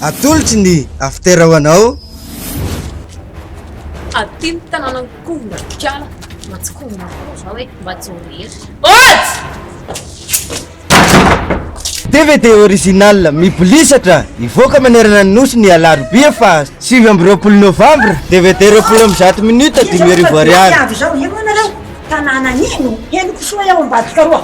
Atolotry ny after ho anao. Aty ny tanànan'i Kovonatrikala. Matsy Kovonatrikala zao hoe mba tsy ho rery. Oats! DVD original mibolisatra hivoaka manerana ny nosy ny alarobia faha sivy amby roapolo novambra. DVD roapolo amby zato minutes dimy arivo ariary. Avy izao, eo ianareo, tanàna ino? Henoko soa eo Ambatokaroa.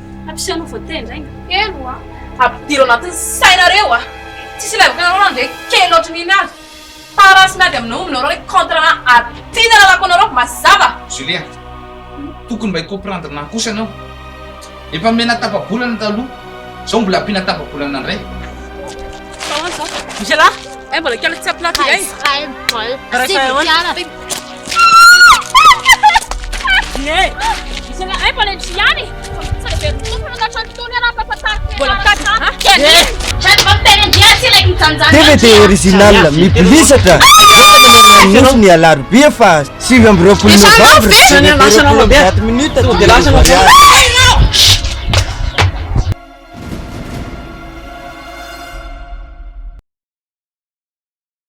Hampisy anao vao tendra iny. Helo a! Ampidiro anatin'ny sainareo a! Tsisy ilevaka anareo na dia kely ohatry ny iny aza. Fa raha tsy miady aminao aminareo hoe contre na aty ny lalako anareo mazava! Julia, tokony mba hi-comprendre ahy kosa ianao. Efa omena tapa-bolana taloha, izao mbola ampiana tapa-bolana indray. Misy ialahy, hay mbola kely tsy ampy latsaka e! Rehefa ahoana? Tevete original mibilisatra Nosy ny alarobia fa sivy amby roapolo novembre Date minute to the mariage